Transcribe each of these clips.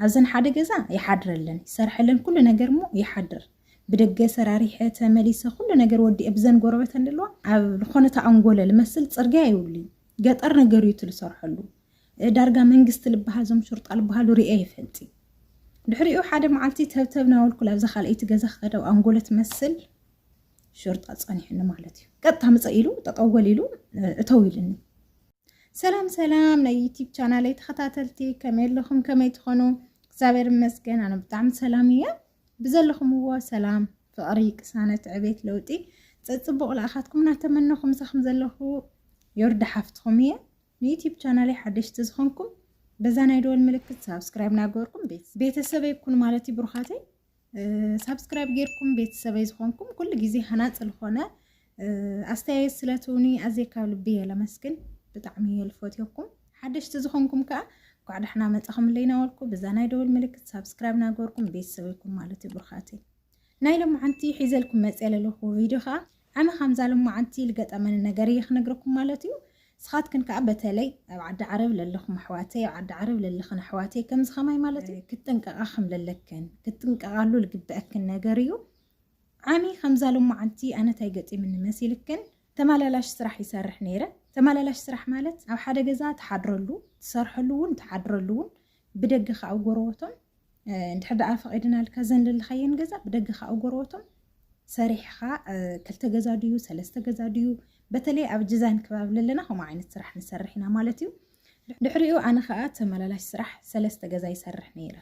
ኣብዘን ሓደ ገዛ ይሓድር ኣለን ይሰርሐለን ኩሉ ነገር እሞ ይሓድር ብደገ ሰራሪሐ ተመሊሰ ኩሉ ነገር ወዲኤ ብዘን ጎረበት ኣለዋ ኣብ ዝኾነ ተኣንጎለ ልመስል ፅርግያ ይብሉይ ገጠር ነገር እዩ ትልሰርሐሉ ዳርጋ መንግስቲ ልበሃል ዞም ሹርጣ ልበሃሉ ርኤ ይፈልጢ ድሕሪኡ ሓደ መዓልቲ ተብተብ ናበልኩ ላብዛ ካልኣይቲ ገዛ ክኸደ ኣብ ኣንጎለ ትመስል ሹርጣ ፀኒሑኒ ማለት እዩ ቀጥታ ምፀ ኢሉ ጠጠወል ኢሉ እተው ኢልኒ ሰላም ሰላም ናይ ዩቲብ ቻናለይ ተኸታተልቲ ከመይ ኣለኹም ከመይ ትኾኑ እግዚኣብሔር ይመስገን ኣነ ብጣዕሚ ሰላም እየ ብዘለኹምዎ ሰላም ፍቕሪ ቅሳነት ዕቤት ለውጢ ፀፅቡቕ ልኣኻትኩም እናተመነኹ ምሳኹም ዘለኹ ዮርዳ ሓፍትኹም እየ ንዩቲብ ቻናለይ ሓደሽቲ ዝኾንኩም በዛ ናይ ደወል ምልክት ሳብስክራይብ ናገበርኩም ቤተሰበይ ኩኑ ማለት እዩ ብሩኻተይ ሳብስክራይብ ጌርኩም ቤተሰበይ ዝኾንኩም ኩሉ ግዜ ሃናፅ ዝኾነ ኣስተያየት ስለትውኒ ኣዝየ ካብ ልቢ እየ ለመስግን ብጣዕሚ እየ ልፈትዮኩም ሓደሽቲ ዝኾንኩም ከዓ እንኳዕ ዳሕና መፃኹም ለይናወልኩ ብዛ ናይ ደውል ምልክት ሳብስክራይብ ናገርኩም ቤተሰበይኩም ማለት እዩ ብርኻተይ ናይ ሎማዓንቲ ሒዘልኩም መፅየ ለለኹ ቪድዮ ከዓ ኣነ ካምዛ ልማዓንቲ ልገጠመኒ ነገር እየ ክነግረኩም ማለት እዩ ስኻትክን ካኣ በተለይ ኣብ ዓዲ ዓረብ ለለኹም ኣሕዋተይ ኣብ ዓዲ ዓረብ ለለኽን ኣሕዋተይ ከምዚ ከማይ ማለት እዩ ክትጥንቀቃ ከም ለለክን ክትጥንቀቃሉ ልግበኣክን ነገር እዩ ዓሚ ከምዛ ልማዓንቲ ኣነ ታይ ገጢምኒ መሲልክን ተማላላሽ ስራሕ ይሰርሕ ነይረ ተማላላሽ ስራሕ ማለት ኣብ ሓደ ገዛ ትሓድረሉ ትሰርሐሉ ውን ትሓድረሉ ውን ብደገ ከኣ ኣብ ጎረቦቶም እንድሕር ደኣ ፈቒድናልካ እዘን ለለኻየን ገዛ ብደገ ከኣ ኣብ ጎረቦቶም ሰሪሕኻ ክልተ ገዛ ድዩ ሰለስተ ገዛ ድዩ በተለይ ኣብ ጅዛን ከባቢ ለለና ከምኡ ዓይነት ስራሕ ንሰርሕ ኢና ማለት እዩ ድሕሪኡ ኣነ ከኣ ተመላላሽ ስራሕ ሰለስተ ገዛ ይሰርሕ ነይረ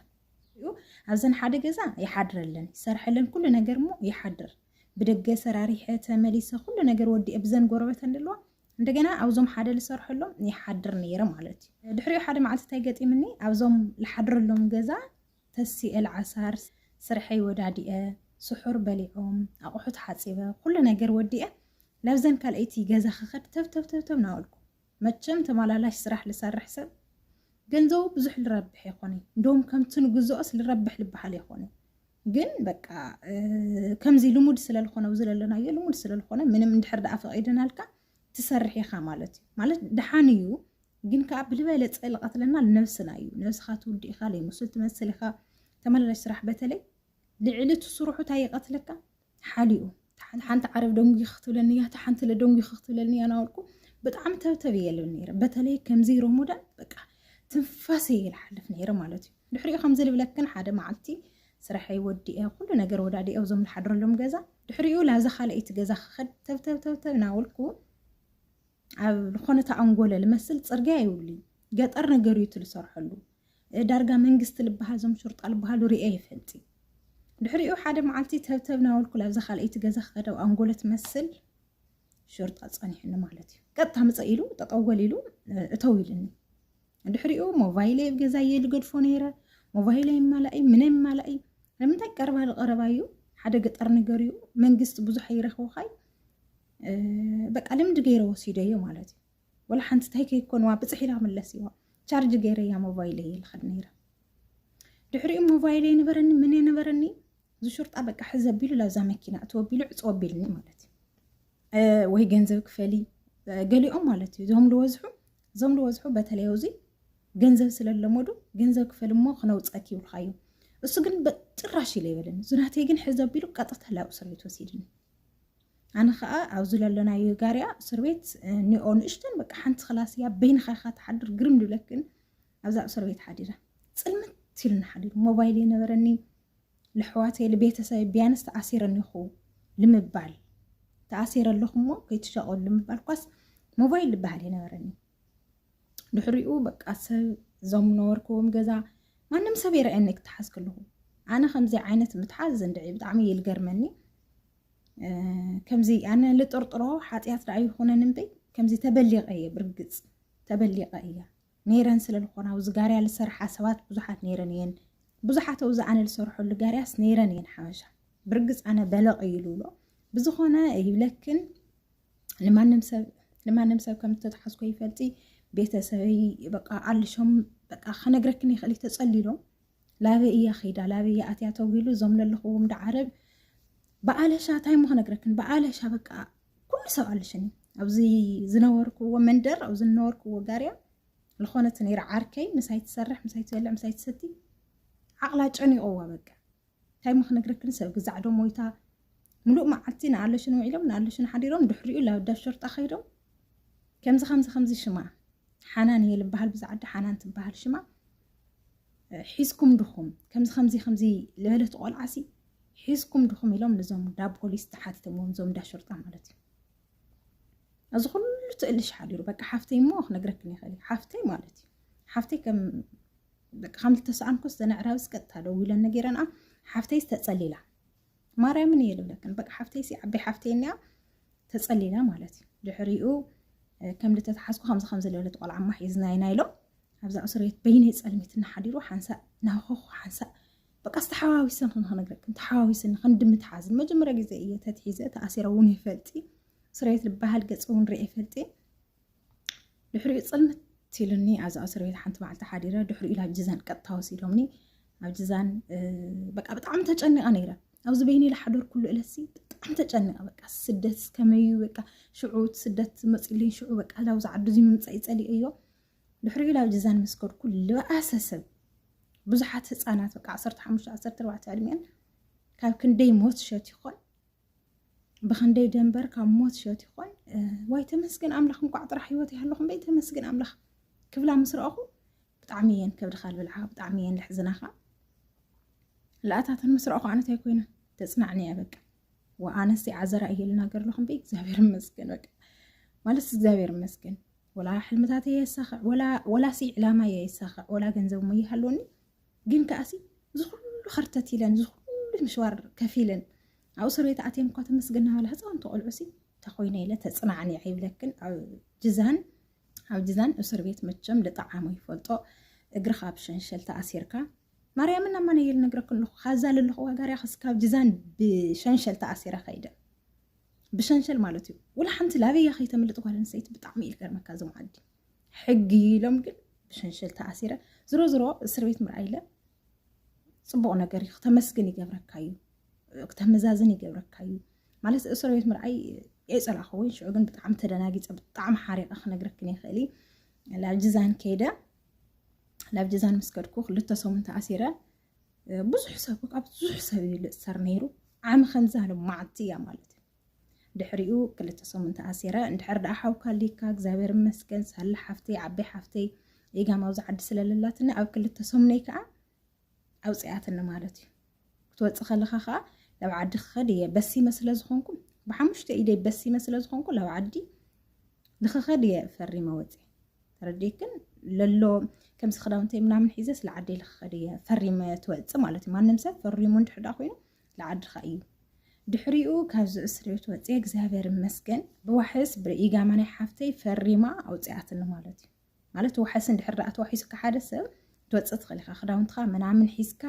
እዩ ኣብዘን ሓደ ገዛ ይሓድረለን ይሰርሐለን ኩሉ ነገር እሞ ይሓድር ብደገ ሰራሪሐ ተመሊሰ ኩሉ ነገር ወዲኤ ብዘን ጎረበት ኣለዋ እንደገና ኣብዞም ሓደ ዝሰርሐሎም ይሓድር ነይረ ማለት እዩ። ድሕሪኡ ሓደ መዓልቲ እንታይ ገጢምኒ ኣብዞም ዝሓድረሎም ገዛ ተሲኤ ልዓሳር ስርሐይ ወዳዲኤ ስሑር በሊዖም ኣቑሑት ሓፂበ ኩሉ ነገር ወዲኤ ላብዘን ካልኣይቲ ገዛ ክኸድ ተብተብተብተብ ናበልኩ መቸም ተመላላሽ ስራሕ ልሰርሕ ሰብ ገንዘቡ ብዙሕ ልረብሕ የኾነይ እንደውም ከምቲ ንግዝኦስ ልረብሕ ልበሃል የኾነይ ግን በቃ ከምዚ ልሙድ ስለልኾነ ኣብዚ ዘለናዮ ልሙድ ስለልኾነ ምንም እንድሕር ደኣ ፈቒደናልካ ትሰርሕ ኢኻ ማለት እዩ ማለት ደሓን እዩ ግን ከዓ ብልበለፀ ልቐትለና ልነብስና እዩ ነብስኻ ትውድ ኢኻ ለይሙስል ትመስል ኢኻ ተመላላሽ ስራሕ በተለይ ልዕሊ ትስርሑ እንታይ ይቐትለካ ሓሊኡ እታ ሓንቲ ዓረብ ደንጒኺ ክትብለኒ እያ፣ እታ ሓንቲ ደንጒኺ ክትብለኒ እያ እናበልኩ ብጣዕሚ ተብተብ እየ ልብል ነይረ። በተለይ ከምዚ ሮሞዳን በቃ ትንፋስ እየ ይልሓልፍ ነይረ ማለት እዩ። ድሕሪኡ ከምዚ ልብለክን ሓደ መዓልቲ ስራሐይ ወዲአ ኩሉ ነገር ወዳዲአ እዞም ዝሓድረሎም ገዛ ድሕሪኡ ላብዛ ካልኣይቲ ገዛ ክኸድ ተብተብ ተብተብ እናበልኩ ኣብ ዝኾነ ተኣንጎለ ልመስል ፅርግያ ይብሉ ገጠር ነገር እዩ እቲ ዝሰርሐሉ ዳርጋ መንግስቲ ልበሃል ዞም ሹርጣ ልበሃሉ ሪኤ ይፈልጢ ድሕሪኡ ሓደ መዓልቲ ተብተብ ናበልኩ ላብዛ ካልኣይቲ ገዛ ክኸደው ኣንጎሎ ትመስል ሹርጣ ፀኒሕኒ ማለት እዩ ቀጥታ ምፀ ኢሉ ጠጠወል ኢሉ እተው ኢልኒ ድሕሪኡ ሞባይለይ ኣብ ገዛ እየ ልገድፎ ነይረ ሞባይለይ ይማላእ እዩ ምነ ይማላእ እዩ ንምንታይ ቀረባ ዝቐረባ እዩ ሓደ ገጠር ነገር እዩ መንግስቲ ብዙሕ ኣይረኽብኻይ በቃ ልምዲ ገይረ ወሲደዮ ማለት እዩ ወላ ሓንቲ እንታይ ከይኮንዋ ብፅሕ ኢላ መለስዋ ቻርጅ ገይረያ ሞባይለይ ይልኸድ ነይረ ድሕሪኡ ሞባይል የነበረኒ ምን የነበረኒ ዝሹርጣ በቃ ሕዘ ቢሉ ላብዛ መኪና እትወ ቢሉ ዕፅወ ቢልኒ ማለት እዩ ወይ ገንዘብ ክፈሊ ገሊኦም ማለት እዩ እዞም ልወዝሑ እዞም ልወዝሑ በተለይ ውዚ ገንዘብ ስለለመዱ ገንዘብ ክፈል እሞ ክነውፀክ ይብልካ እዩ እሱ ግን ጭራሽ ኢለ ይበለኒ ዝናተይ ግን ሕዘ ቢሉ ቀጥታ ላብ እስር ቤት ወሲድኒ ኣነ ከዓ ኣብዚ ለለናዮ ጋርያ እስር ቤት ኒኦ ንእሽተን በቃ ሓንቲ ክላስ እያ በይንኻ ኢኻ ትሓድር ግርም ድብለክን ኣብዛ እስር ቤት ሓዲረ ፅልምት ኢልና ሓዲሩ ሞባይል የነበረኒ ልሕዋተይ ልቤተሰብ ቢያንስ ተኣሲረኒ ይኹ ልምባል ተኣሲረ ኣለኹ እሞ ከይትሸቀሉ ልምባል ኳስ ሞባይል ልበሃል የነበረኒ ድሕሪኡ በቃ ሰብ እዞም ነበርክዎም ገዛ ማንም ሰብ ይረአየኒ ክትሓዝ ከለኹ ኣነ ከምዚ ዓይነት ምትሓዝ እንድዒ ብጣዕሚ ይልገርመኒ ከምዚ ኣነ ልጥርጥሮ ሓጢኣት ደኣ ይኾነን እምበይ ከምዚ ተበሊቐ እየ ብርግፅ ተበሊቐ እያ ነይረን ስለ ዝኾና ኣብዚ ጋርያ ዝሰርሓ ሰባት ብዙሓት ነይረን እየን ብዙሓት ኣብዚ ኣነ ዝሰርሐሉ ጋርያስ ነይረን እየን ሓበሻ ብርግፅ ኣነ በለቕ እዩ ልብሎ ብዝኾነ ይብለክን ንማንም ሰብ ንማንም ሰብ ከም ዝተትሓዝኮ ይፈልጢ ቤተሰበይ በቃ ኣልሾም በቃ ከነግረክን ይኽእል ተፀሊሎም ላበይ እያ ከይዳ ላበይ እያ ኣትያ ተዊሉ እዞም ለለኽዎም ዶ ዓረብ ብኣለሻ እንታይ እሞ ክነግረክን ብኣለሻ በቃ ኩሉ ሰብ ኣለሽኒ ኣብዚ ዝነበርክዎ መንደር ኣብዚ ዝነበርክዎ ጋርያ ዝኾነት ነይራ ዓርከይ ምሳይ ትሰርሕ ምሳይ ትበልዕ ምሳይ ትሰቲ ዓቕላ ጨኒቖዋ በቃ እንታይ እሞ ክነግረክን ሰብ ግዛዕ ዶ ሞይታ ሙሉእ መዓልቲ ንኣለሽን ውዒሎም ንኣለሽን ሓዲሮም ድሕሪኡ ላብ ዳብ ሸርጣ ከይዶም ከምዚ ከምዚ ከምዚ ሽማ ሓናን እየ ልበሃል ብዛዓዲ ሓናን ትበሃል ሽማ ሒዝኩም ድኹም ከምዚ ከምዚ ከምዚ ዝበለት ቆልዓሲ ሒዝኩም ድኹም ኢሎም ንዞም እንዳ ፖሊስ ተሓቲቶምዎም እዞም እንዳ ሸርጣ ማለት እዩ እዚ ኩሉ ትእልሽ ሓዲሩ በቃ ሓፍተይ እሞ ክነግረክን ይኽእል እዩ ሓፍተይ ማለት እዩ ሓፍተይ ከም በቃ ከም ዝተሰኣንኩ ዝተነዕራብስ ቀጥታ ደዊለን ነገረንኣ ሓፍተይስ ተፀሊላ ማርያምን እየ ልብለክን በቃ ሓፍተይሲ ዓበ ሓፍተይ እኒኣ ተፀሊላ ማለት እዩ ድሕሪኡ ከም ልተተሓዝኩ ከምዚ ከምዚ ለብለት ቆልዓ ማሕ እዝናይና ኢሎም ኣብዛ እስርቤት በይነይ ጸልሚት እናሓዲሩ ሓንሳእ ናኾኹ ሓንሳእ በቃስ ተሓዋዊሰን ክንክነግረክን ተሓዋዊሰን ክንድምት ሓዝ ንመጀመርያ ግዜ እየ ተትሒዘ ተኣሲረ እውን ይፈልጢ እስርቤት ዝበሃል ገጽ እውን ርኤ ይፈልጢ ድሕሪኡ ጽልምት ኢሉኒ ኣብዛ እስርቤት ሓንቲ መዓልቲ ሓዲረ ድሕሪኡ ናብ ጅዛን ቀጥታ ወሲዶምኒ ኣብ ጅዛን በቃ ብጣዕሚ ተጨኒቐ ነይረ ኣብዚ በይነይ ላሓደር ኩሉ እለሲ ብጣዕሚ ተጨኒቐ በቃ ስደት ከመዩ በቃ ሽዑ ስደት መፅልኝ ሽዑ በቃ ላብዚ ዓዱ እዚ ምምፃእ ይፀሊኦ እዮ ድሕሪኡ ናብ ጅዛን ምስ ከድኩ ልባኣሰ ሰብ ብዙሓት ህፃናት በቃ 15 14 ዕድሜን ካብ ክንደይ ሞት ሸት ይኾን ብክንደይ ደንበር ካብ ሞት ሸት ይኾን ዋይ ተመስገን ኣምላኽ እንኳዕ ጥራሕ ህይወት ይሃለኹም በይ ተመስገን ኣምላኽ ክብላ ምስ ረኣኹ ብጣዕሚ እየን ከብድኻ ልብልዓ ብጣዕሚ እየን ልሕዝናኻ ልኣታተን ምስ ረኣኹ ኣነታይ ኮይነ ተፅናዕኒ እያ በቃ ወኣነስ የዓዘራ እየ ልናገር ኣለኹ እምበይ እግዚኣብሔር ይመስገን በቃ ማለት እግዚኣብሔር ይመስገን ወላ ሕልምታት እየ የሳኽዕ ወላ ሲ ዕላማ እየ የሳኽዕ ወላ ገንዘብ እሞ ይሃለወኒ ግን ከኣሲ እዚ ኩሉ ከርተት ኢለን እዚ ኩሉ ምሽዋር ከፍ ኢለን ኣብ እስር ቤት ኣትየን እኳ ተመስገን ናበላ ህፃውንቲ ቆልዑ ሲ ተኮይነ ኢለ ተፅናዕኒዐ ይብለክን ኣብ ጅዛን ኣብ ጅዛን እስር ቤት መቸም ልጣዓሙ ይፈልጦ እግርኻ ብሸንሸል ተኣሲርካ ማርያምን ኣማን እየ ልነግረክ ኣለኹ ካብዛ ለለኹ ዋጋርያ ክስካብ ጅዛን ብሸንሸል ተኣሲረ ከይደ ብሸንሸል ማለት እዩ ውላ ሓንቲ ላበያ ከይተምልጥ ጓል ኣንስተይቲ ብጣዕሚ እዩ ዝገርመካ እዞም ዓዲ ሕጊ ኢሎም ግን ብሸንሸል ተኣሲረ ዝሮ ዝሮ እስር ቤት ምርኣይ ኢለ ፅቡቅ ነገር እዩ ክተመስግን ይገብረካ እዩ ክተመዛዝን ይገብረካ እዩ ማለት እስር ቤት ምርኣይ የፀላኸወይ ሽዑ ግን ብጣዕሚ ተደናጊፀ ብጣዕሚ ሓሪቀ ክነግረክን ይኽእል እዩ ላብ ጅዛን ከይደ ናብ ጀዛን ምስ ከድኩ ክልተ ሰሙን ተኣሲረ ብዙሕ ሰብ ካብ ብዙሕ ሰብ እዩ ልእሰር ነይሩ ዓሚ ከምዛ ልማዓቲ እያ ማለት እዩ ድሕሪኡ ክልተ ሰሙን ተኣሲረ እንድሕር ደኣ ሓውካ ኣሊካ እግዚኣብሔር ይመስገን ሳላ ሓፍተይ ዓበይ ሓፍተይ ኢጋም ኣብዚ ዓዲ ስለለላትኒ ኣብ ክልተ ሰሙነይ ከዓ ኣውፅኣትኒ ማለት እዩ ክትወፅእ ከለካ ከዓ ናብ ዓዲ ክኸድ እየ በሲመ ስለ ዝኾንኩ ብሓሙሽተ ኢደይ በሲመ ስለ ዝኾንኩ ናብ ዓዲ ንክኸድ እየ ፈሪመ ወፂ ተረዲክን ለሎ ከምዚ ክዳውንተይ ምናምን ሒዘ ስለ ዓደይ ልክኸድ እየ ፈሪመ ትወፅእ ማለት እዩ ማንም ሰብ ፈሪሙ እንድሕዳ ኮይኑ ንዓድኻ እዩ ድሕሪኡ ካብዚ እስር ቤት ወፂ እግዚኣብሔር ይመስገን ብዋሕስ ብኢጋማ ናይ ሓፍተይ ፈሪማ ኣውፅኣትኒ ማለት እዩ ማለት ዋሕስ እንድሕር ደኣ ተዋሒሱካ ሓደ ሰብ ክትወፅእ ትኽእል ኢኻ ክዳውንትኻ ምናምን ሒዝካ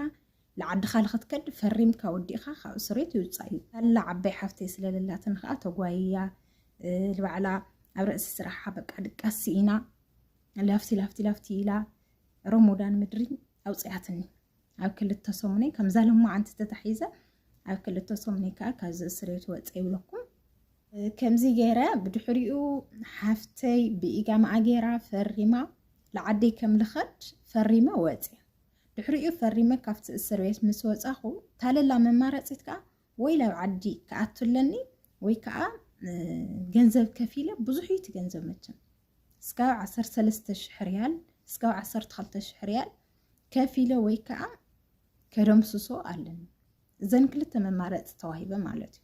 ንዓድኻ ንኽትከድ ፈሪምካ ወዲእኻ ካብ እሱሬት ይውፃእ እዩ ኣላ ዓባይ ሓፍተይ ስለለላትን ከዓ ተጓይያ ልባዕላ ኣብ ርእሲ ስራሓ በቃ ድቃስ ስኢና ላፍቲ ላፍቲ ላፍቲ ኢላ ረሞዳን ምድሪ ኣውፅያትኒ ኣብ ክልተ ሰሙነይ ከምዛ ለማዓንቲ ተታሒዘ ኣብ ክልተ ሰሙነይ ከዓ ካብዚ እስሬት ወፀ ይብለኩም ከምዚ ገይረ ብድሕሪኡ ሓፍተይ ብኢጋምዓ ገይራ ፈሪማ ንዓደይ ከም ልኸድ ፈሪመ ወፅየ ድሕሪኡ ፈሪመ ካብቲ እስር ቤት ምስ ወፃኹ ታለላ መማረፂት ከዓ ወይ ናብ ዓዲ ክኣቱ ኣለኒ ወይ ከዓ ገንዘብ ከፊለ ብዙሕ እዩ እቲ ገንዘብ መቸም እስካብ 13 ሽሕ ሪያል እስካብ 12 ሽሕ ሪያል ከፊለ ወይ ከዓ ከደምስሶ ኣለኒ እዘን ክልተ መማረፂ ተዋሂበ ማለት እዩ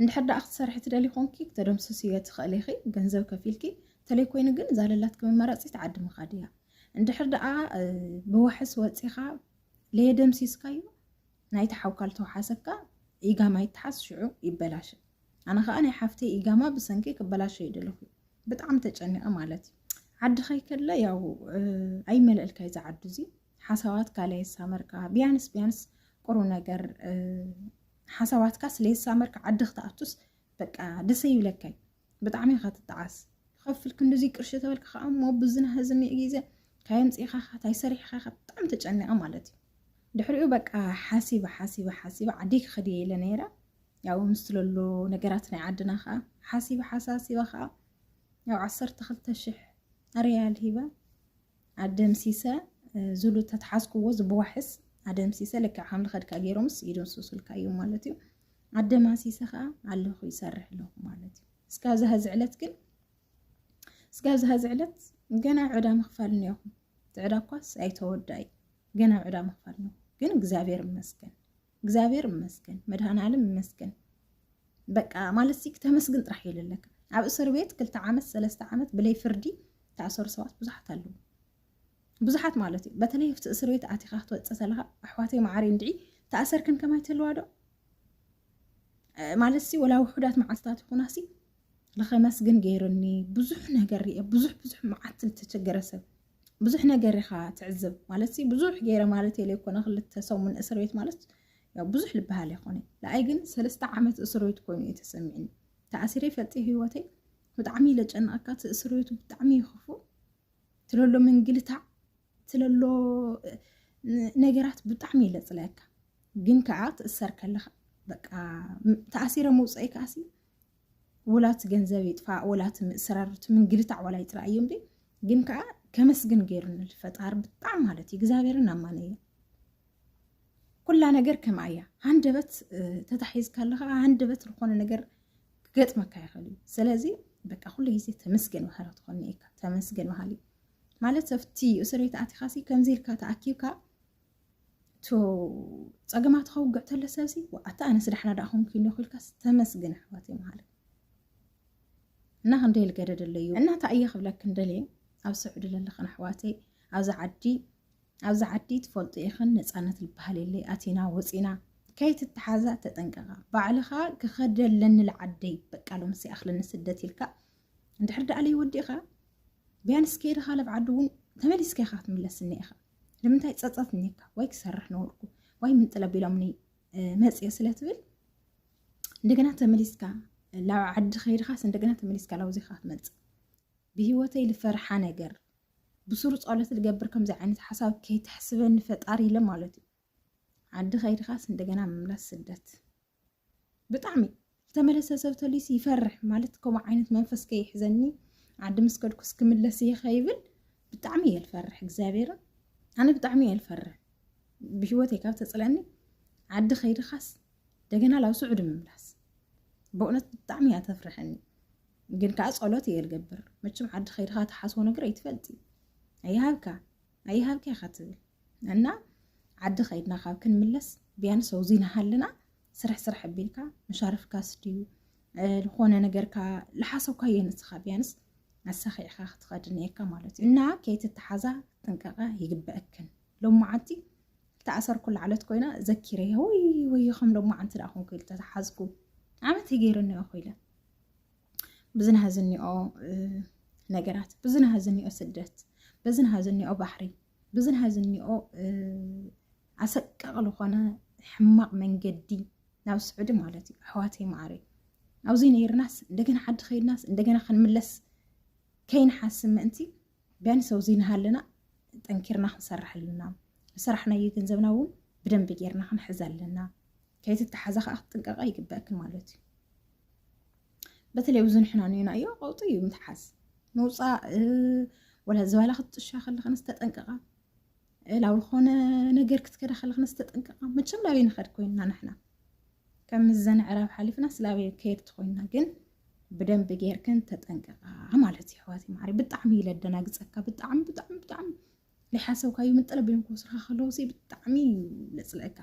እንድሕር ደኣ ክትሰርሒ ትደሊ ኮንኪ ክተደምስስ እየ ትኽእል ኢኺ ገንዘብ ከፊልኪ ተለይ ኮይኑ ግን እዛ ለላትኪ መመረፂት ዓዲ ምኻድ እያ እንድሕር ደኣ ብዋሕስ ወፂኻ ለየደምሲስካዩ ናይቲ ሓውካ ልተውሓሰካ ኢጋማ ይተሓስ ሽዑ ይበላሸ ኣነ ከዓ ናይ ሓፍተይ ኢጋማ ብሰንኪ ክበላሸ ይደለኹ ብጣዕሚ ተጨኒቐ ማለት እዩ ዓዲ ከይከለ ያው ኣይመለእልካ እዩ ዝዓዱ እዙ ሓሳባትካ ለየሳመርካ ቢያንስ ቢያንስ ቁሩ ነገር ሓሳባትካ ስለየሳመርካ ዓዲ ክትኣቱስ በቃ ደሰ ይብለካይ ብጣዕሚ ኢኻ ትጠዓስ ክኸፍል ክንዲዙይ ቅርሺ ተበልካ ከዓ እሞ ብዝና ህዝኒ ግዘ ካየምፅኢኻ ካታይ ሰሪሕኻ ኢኻ ብጣዕሚ ተጨኒቐ ማለት እዩ ድሕሪኡ በቃ ሓሲበ ሓሲበ ሓሲበ ዓደይ ክኸድ እየ ኢለ ነይረ ያው ምስ ስለሎ ነገራት ናይ ዓድና ከዓ ሓሲበ ሓሳሲበ ከዓ ያው ዓሰርተ ክልተ ሽሕ ሪያል ሂበ ኣደምሲሰ ዝሉ ተትሓዝክዎ ዝብዋሕስ ኣደምሲሰ ልክዕ ከም ልኸድካ ገይሮምስ ይደምስሱልካ እዮም ማለት እዩ ኣደማሲሰ ከዓ ኣለኹ ይሰርሕ ኣለኹ ማለት እዩ እስካ ኣብዚ ሀዚ ዕለት ግን እስካ ኣብዚ ሀዚ ዕለት ገና ዕዳ ምኽፋል እኒኦኹም እቲ ዕዳ እኳስ ኣይተወዳይ ገና ዕዳ ምኽፋል ነው ግን እግዚኣብሔር ይመስገን እግዚኣብሔር ይመስገን መድሃናልም ይመስገን በቃ ማለት ሲ ተመስግን ጥራሕ እዩ ዘለካ ኣብ እስር ቤት ክልተ ዓመት ሰለስተ ዓመት ብለይ ፍርዲ ተኣሰሩ ሰባት ብዙሓት ኣለዉ ብዙሓት ማለት እዩ በተለይ ኣብቲ እስር ቤት ኣቲኻ ክትወፅእ ዘለካ ኣሕዋተይ መዓሪ እንድዒ ተኣሰርክን ከማይ ተለዋ ዶ ማለት ሲ ወላ ውሑዳት መዓልትታት ይኹና ሲ ንኸመስግን ገይሩኒ ብዙሕ ነገር ርየ ብዙሕ ብዙሕ መዓት ዝተቸገረ ሰብ ብዙሕ ነገር ኢኻ ትዕዝብ ማለት ሲ ብዙሕ ገይረ ማለት የለ ይኮነ ክልተ ሰሙን እስር ቤት ማለት ያው ብዙሕ ልበሃል ይኮነ ንኣይ ግን ሰለስተ ዓመት እስር ቤት ኮይኑ እዩ ተሰሚዕኒ ተኣሲረ ይፈልጥ ህይወተይ ብጣዕሚ ኢለ ጨነቐካ እቲ እስር ቤቱ ብጣዕሚ ይኽፉ ትለሎ ምንግልታዕ ትለሎ ነገራት ብጣዕሚ ኢለ ፅለየካ ግን ከዓ ትእሰር ከለኻ በቃ ተኣሲረ መውፀኢ ከዓሲ ወላቲ ገንዘብ ይጥፋእ ወላቲ ምእስራር እቲ ምንግልታዕ ዋላ ይጥራ እዩ እምበይ ግን ከዓ ከመስግን ገይሩኒ ፈጣሪ ብጣዕሚ ማለት እዩ እግዚኣብሔርን ኣማነ እዩ ኩላ ነገር ከምኣ እያ ሃንደበት ተታሒዝካ ኣለካ ሃንደበት ዝኾነ ነገር ክገጥመካ ይኽእል እዩ ስለዚ በቃ ኩሉ ግዜ ተመስገን ባህሪ ትኾኒ እካ ተመስገን ባህሊ ማለት ኣብቲ እስር ቤት ኣቲኻሲ ከምዚ ኢልካ ተኣኪብካ ፀገማት ከውግዕ ተለ ሰብሲ ኣታ ኣነስ ዳሕና ዳኣ ኮንኩ ኣለኹ ኢልካስ ተመስግን ኣሕዋት ይምሃለ እና ክንደይ ልገደ ደለዩ እና እታ እየ ክብለክን ደልየ ኣብ ስዑዲ ዘለኽን ኣሕዋተይ ኣብዚ ዓዲ ኣብዚ ዓዲ ትፈልጡ ኢኽን ነፃነት ዝበሃል የለይ ኣቲና ወፂና ከይትተሓዛ ተጠንቀቓ ባዕልኻ ክኸደለኒ ልዓደይ በቃ ሎም ሲኣኽለኒ ስደት ኢልካ እንድሕር ደኣ ለይወዲእኻ ቢያንስ ከይድኻ ለብ ዓዲ እውን ተመሊስካ ኢኻ ክትምለስኒ ኢኻ ንምንታይ ፀፀት እኒካ ዋይ ክሰርሕ ነበርኩ ዋይ ምንጥለ ቢሎምኒ መፅዮ ስለትብል እንደገና ተመሊስካ ላብ ዓዲ ከይድካስ እንደገና ተመሊስካ ላብዚካ ትመፅእ ብሂወተይ ልፈርሓ ነገር ብሱሩ ፀሎት ልገብር ከምዚ ዓይነት ሓሳብ ከይትሕስበኒ ፈጣሪ ኢለ ማለት እዩ ዓዲ ከይድኻስ እንደገና ምምላስ ስደት ብጣዕሚ ዝተመለሰ ሰብ ተልዩሲ ይፈርሕ ማለት ከምኡ ዓይነት መንፈስ ከይሕዘኒ ዓዲ ምስ ከድኩስ ክምለስ እየ ከይብል ብጣዕሚ እየ ልፈርሕ እግዚኣብሔርን ኣነ ብጣዕሚ እየ ልፈርሕ ብሂወተይ ካብ ተፅለኒ ዓዲ ከይድኻስ እንደገና ላብ ስዑዲ ምምላስ በእውነት ብጣዕሚ እያ ተፍርሐኒ ግን ከዓ ፀሎት እየ ልገብር መቸም ዓዲ ከይድኻ ተሓስቦ ነገር ኣይትፈልጥ እዩ ኣይሃብካ ኣይሃብኪ ኢኻ ትብል እና ዓዲ ከይድና ካብ ክንምለስ ቢያንስ ኣውዚ ናሃለና ስራሕ ስራሕ ኣቢልካ መሻርፍካ ስድዩ ዝኾነ ነገርካ ልሓሰብካዮ ንስኻ ቢያንስ ኣሳኺዕካ ክትኸድ ነየካ ማለት እዩ እና ከይትተሓዛ ጥንቀቐ ይግበአክን ሎም መዓንቲ ተኣሰርኩ ላዕለት ኮይና ዘኪረ ወይ ወይ ከም ሎም መዓንቲ ደኣ ኮንኩ ኢል ተተሓዝኩ ዓመት ይገይርኒ እኮ ኢለ ብዝናሃ ዝኒኦ ነገራት ብዝናሃ ዝኒኦ ስደት ብዝናሃ ዝኒኦ ባሕሪ ብዝናሃ ዝኒኦ ኣሰቃቂ ዝኾነ ሕማቕ መንገዲ ናብ ስዑዲ ማለት እዩ ኣሕዋተይ ማዕረይ ኣብዚ ነይርናስ እንደገና ዓዲ ከይድናስ እንደገና ክንምለስ ከይንሓስብ ምእንቲ ቢያንስ ኣብዚ ንሃለና ጠንኪርና ክንሰርሕ ኣለና ዝሰራሕናዮ ገንዘብና እውን ብደንቢ ጌርና ክንሕዝ ኣለና ከይትተሓዛ ከዓ ክትጥንቀቃ ይግበእክ ማለት እዩ በተለይ ኣብዚ ንሕና ንናዮ ቀውጢ እዩ ምትሓዝ ምውፃእ ወላ ዝበላ ክትጥሻ ከለክንስ ተጠንቀቃ ላብ ዝኾነ ነገር ክትከዳ ከለክንስ ተጠንቀቃ መቸም ላበይ ንኸድ ኮይና ንሕና ከም ዘንዕራብ ሓሊፍና ስላበይ ከየድቲ ኮይና ግን ብደንብ ጌርክን ተጠንቀቃ ማለት እዩ ሕዋት ማዕሪ ብጣዕሚ ይለደናግፀካ ብጣዕሚ ብጣዕሚ ብጣዕሚ ለይሓሰብካዮ ምጥረ ቢሎም ክወስዱኻ ከለዉ ሲ ብጣዕሚ እዩ ለፅልእካ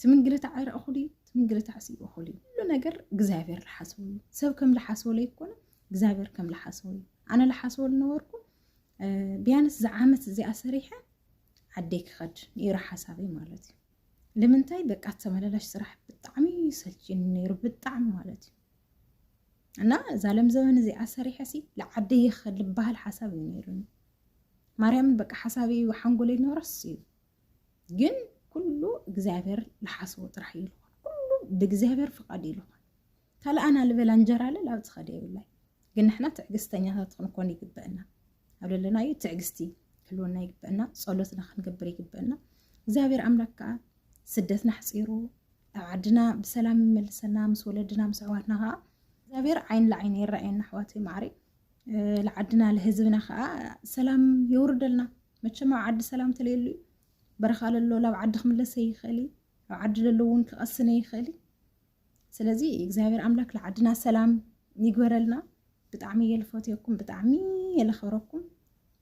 ትምንግልታዕ ኣይረእኹሉ እዩ ትምንግልታዕ ሲ እኹል እዩ ኩሉ ነገር እግዚኣብሔር ልሓስቡ እዩ ሰብ ከም ልሓስቦ ለይኮነ እግዚኣብሔር ከም ልሓስቦ እዩ ኣነ ልሓስቦ ልነበርኩ ቢያንስ ዝዓመት እዚኣ ሰሪሐ ዓደይ ክኸድ ነይሩ ሓሳበይ ማለት እዩ ልምንታይ በቃ ተመላላሽ ስራሕ ብጣዕሚ ሰልችኒ ነይሩ ብጣዕሚ ማለት እዩ እና እዛ ለም ዘበን እዚኣ ሰሪሐ ሲ ልዓደይ ይኸድ ልበሃል ሓሳብ እዩ ነይሩኒ ማርያምን በቃ ሓሳበይ እዩ ሓንጎለይ ነረስ እዩ ግን ኩሉ እግዚኣብሔር ዝሓስቦ ጥራሕ እዩ ልኾን ኩሉ ብእግዚኣብሔር ፍቃድ እዩ ልኾን ካልእ ኣና ልበላ እንጀራ ለ ላብ ዝኸደ የብላይ ግን ንሕና ትዕግስተኛታት ክንኮን ይግበአና ኣብ ለለና እዩ ትዕግስቲ ክህልወና ይግበአና ፀሎትና ክንገብር ይግበአና እግዚኣብሔር ኣምላክ ከዓ ስደትና ሕፂሩ ኣብ ዓድና ብሰላም ይመልሰና ምስ ወለድና ምስ ኣሕዋትና ከዓ እግዚኣብሔር ዓይን ለዓይኒ ይረኣየና ኣሕዋተይ ማዕሪ ልዓድና ልህዝብና ከዓ ሰላም የውርደልና መቸም ኣብ ዓዲ ሰላም ተለየሉ እዩ በረኻ ለሎ ላብ ዓዲ ክምለሰ ይኽእል እዩ ኣብ ዓዲ ለሎ እውን ክቐስነ ይኽእል እዩ ስለዚ እግዚኣብሔር ኣምላክ ልዓድና ሰላም ይግበረልና ብጣዕሚ እየ ልፈትየኩም ብጣዕሚ እየ ለኸብረኩም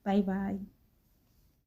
ባይ ባይ